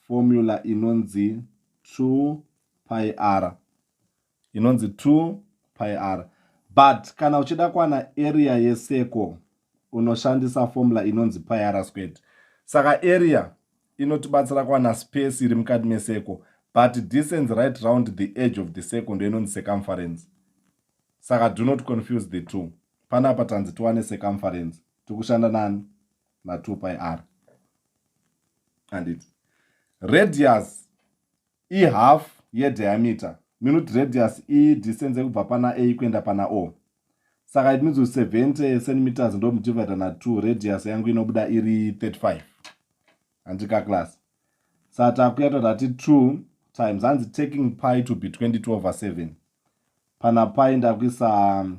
formula inonzi 2 pi r inonzi 2 pi r but kana uchida kwana area yeseko unoshandisa formula inonzi pi r squared saka area inotibatsira kwana space iri mukati meseko but distance right round the edge of the circle ndo inonzi circumference saka do not confuse the two panapa tanzi tiwane circumference tikushanda nani na 2 pi r anditi radius ihalf yediameter minute radius i distance yekubva pana a kuenda pana o saka it means 70 centimeters ndomudivida na 2 radius yangu inobuda iri 35 handika class saka takuya totati 2 times hanzi taking pi to be 22 over 7 pana pi ndakuisa um,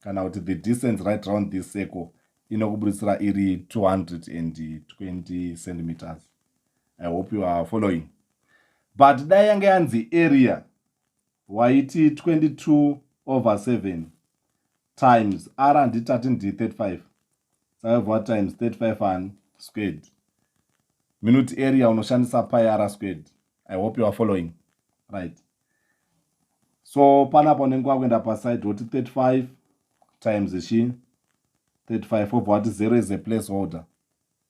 kana kuti the distance right round this circle inokubuditsira iri 220 centimeters i hope you are following but dai yange yanzi area waiti 22 over 7 times r handitati ndi 35 5 what times 35 ani squared minute area unoshandisa pi r squared i hope you are following right so panapa unenge wakuenda paside woti 35 times chi 35 obva wati 0 is a place holder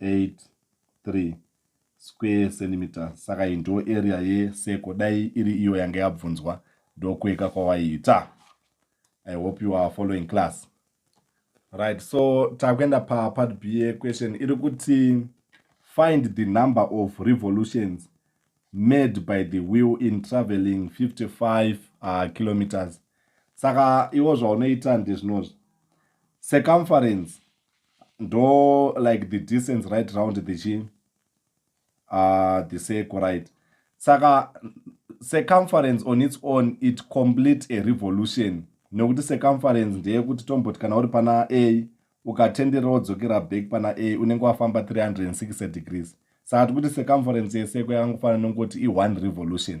83 square centimeters saka iyi ndo area yeseko dai iri iyo yange yabvunzwa ndokueka kwawaiita i hope you are following class right so takuenda papart b yequestion iri kuti find the number of revolutions made by the wheel in traveling 55 uh, kilometers saka iwo zvaunoita ndezvinozvi circumference ndo like the distance right round the chi uh, the circle right saka circumference on its own it complete a revolution nekuti circumference ndeyekuti tomboti kana uri pana a ukatenderera wodzokera back pana a unenge wafamba 360 degrees saka tikuti circumference yeseko yakangofanira nokungoti i1 revolution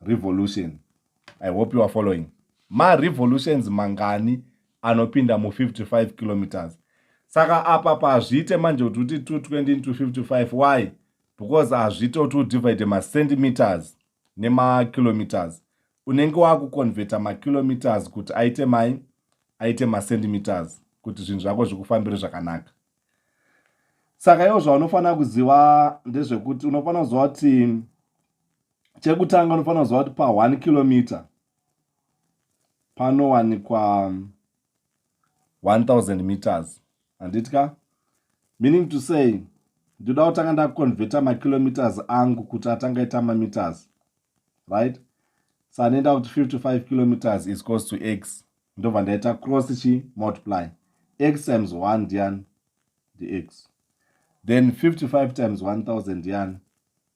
revolution i hope you are following marevolutions mangani anopinda mu55 kilometers saka apa pazviite manje kuti uti 220 into 55 why because hazviite kuti udivide macentimeters nemakilometers unenge wakuconveta makilometers kuti aite mai aite macentimeters kuti zvinhu zvako zvikufambire zvakanaka saka iwo zvaunofanira kuziva ndezvekuti unofanira kuziva kuti chekutanga unofanira kuziva kuti pa 1 kilometer panowanikwa 1000 um, meters handiti ka meaning to say ndinoda kutanga ndakonvheta makilometers angu kuti atanga ita mameters right so anoenda kuti 55 kilometers is cos to x ndobva ndaita cross chi multiply x times 1 ndian ndix then 55 times 1000 ndian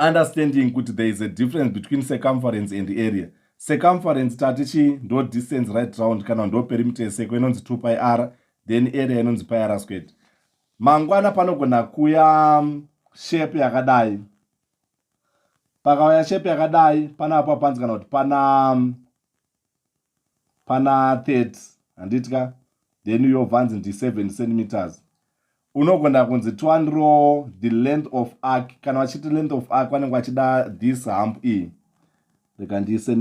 understanding kuti there is a difference between circumference and area circumference tati chii ndo distance right round kana ndo perimeter yeseko inonzi 2 pi r then area inonzi pi r squared mangwana panogona kuya um, shape yakadai pakauya shape yakadai panapo panzi kana kuti pana um, pana 30 handiti ka then uyobvanzi ndi 7 centimeters unogona kunzi twanro the length of arc kana vachiti length of arc vanenge vachida this hump iyi rega ndiise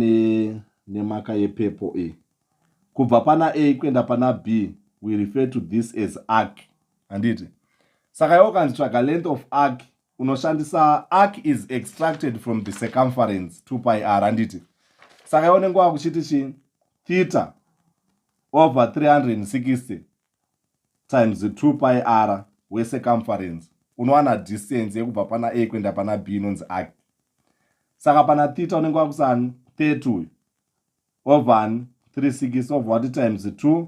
nemaka ne yepepo iyi kubva pana a kuenda pana b we refer to this as arc handiti saka iwo kanzi tsvaga length of arc unoshandisa arc is extracted from the circumference 2 pi r handiti saka iwo nenge wakuchiti chii theta over 360 times 2 pi r wecircumference unowana distance yekubva pana a kuenda pana b inonzi arc saka pana theta unenge wakusani 30 uyu over 360 over what times 2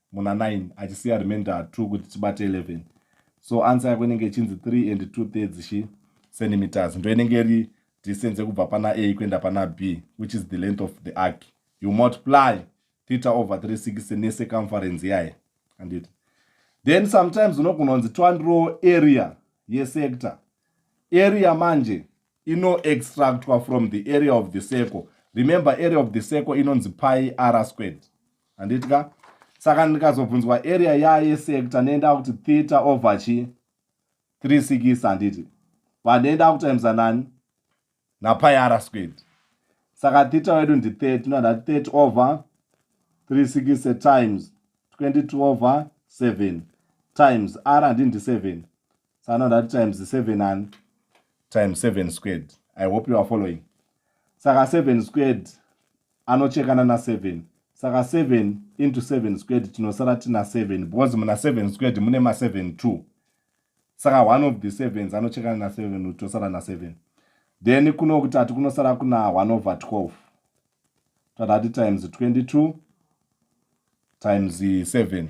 muna 9 achisiya remainder 2 kuti tibate 11 so answer yako inenge ichinzi 3 and 2 thirds chi centimeters ndo inenge iri distance yekubva pana a kuenda pana b which is the length of the arc you multiply theta over 36 necircumference yaye anditi then sometimes unogononzi twandiro area yesector area manje ino extractwa from the area of the circle remember area of the circle inonzi pi r squared handiti ka saka ndikazobvunzwa area yaye sector nenda kuti theta over chi 3 sikis handiti vandoenda kutimesa nani napai r squared saka theta wedu ndi 3 tinoda 3 over 3 sikise times 22 over 7 times r handii ndi 7 sana ndati times seven ani times seven squared i hope you are following saka seven squared anochekana naseven saka seven into seven squared tinosara tina seven because muna seven squared mune maseven two saka one of the sevens anochekana naseven kuti tosara naseven then kuno kutatu kunosara kuna one over twelve tatati times twenty two times seven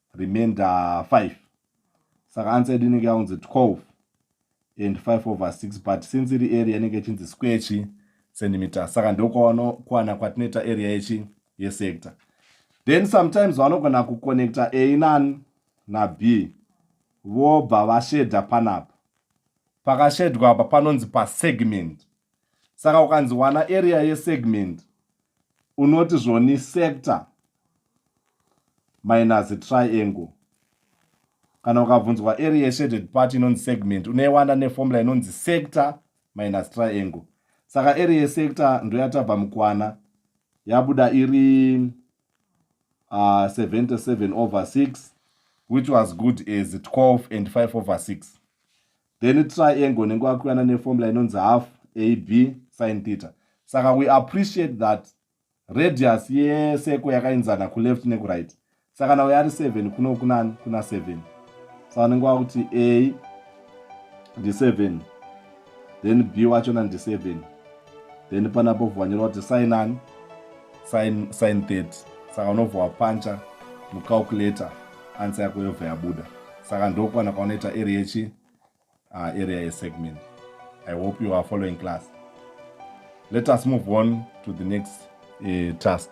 remainder 5 saka answer yedu inenge yaunzi 12 and 5 over 6 but since iri area inenge ichinzi square chi centimeter saka ndokuwana kwatinoita area yechi yesector then sometimes vanogona kuconnecta a nan nab vobva vashedha panapa pakashedhwa apa panonzi pasegment saka ukanzi wana area yesegment unoti zvoni sector minus triangle kana ukabvunzwa area yeshaded part inonzi segment unoiwana neformula inonzi sector minus triangle saka area yesector ndoyatabva mukwana yabuda iri uh, ah, 77 over 6 which was good as 12 and 5 over 6 then triangle unenge wakuwana neformula inonzi half ab sin theta saka we appreciate that radius yeseko yakainzana kuleft nekuright saka nawo yari 7 kuno kunani kuna 7 sa unenge wakuti a ndi 7 then b wachona ndi 7 then panapo vanyora kuti sign ani sign sign 30 saka unobva wapancha mucalculator ansa yako yobva yabuda saka ndokwana kwaunoita area yechi uh, area yesegment i hope you are following class let us move on to the next uh, task